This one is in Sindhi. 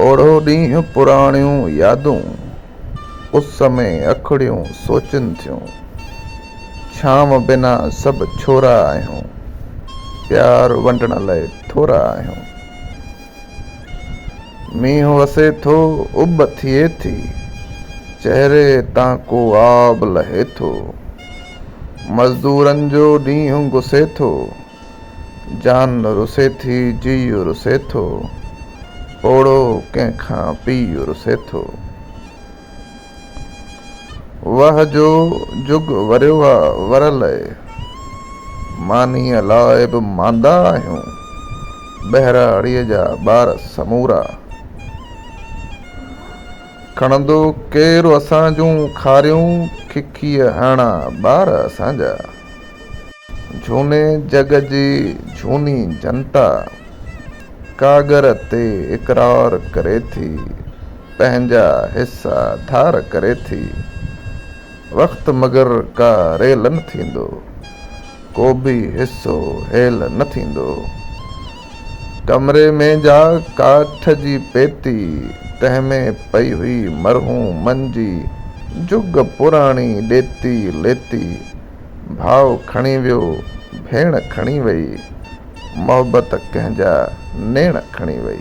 اوڙو ڏينهن پراڻيون يادون اس ۾ اکڙيون سوچن ٿيون ڇانو بنا سڀ ڇورا آهيون پيار ونڊڻ لئه ٿورا آهيون مينهن وسي ٿو اڀ ٿئي ٿي چهري تان ڪو آب لهي ٿو مزدورن جو ڏينهن گسي ٿو جان رسي ٿي جيء رسي ٿو، پوڙهو ڪنهن کان پيء رسي ٿو. وه جو جڳ وريو آ ور لئه، مانيء لاء به ماندا آهيون، ٻهراڙيء جا ٻار سمورا. کڻندو ڪير اسان جون کاريون، ککيء هڻا ٻار اسان جا. جھوني جڳ جي جھوني جنتا ڪاڳر تي اقرار ڪري ٿي، پنهنجا حصا ڌار ڪري ٿي. وقت مگر ڪا ريل نه ٿيندو، ڪو به حصو هيل نه ٿيندو. ڪمري ۾ جا ڪاٺ جي پيتي، تنهن ۾ پئي هئي مرحومن جي جھڳ پراڻي ڏيتي ليتي. ڀاء کڻي ويو، ڀيڻ کڻي وئي، محبت ڪنهن جا نيڻ کڻي وئي.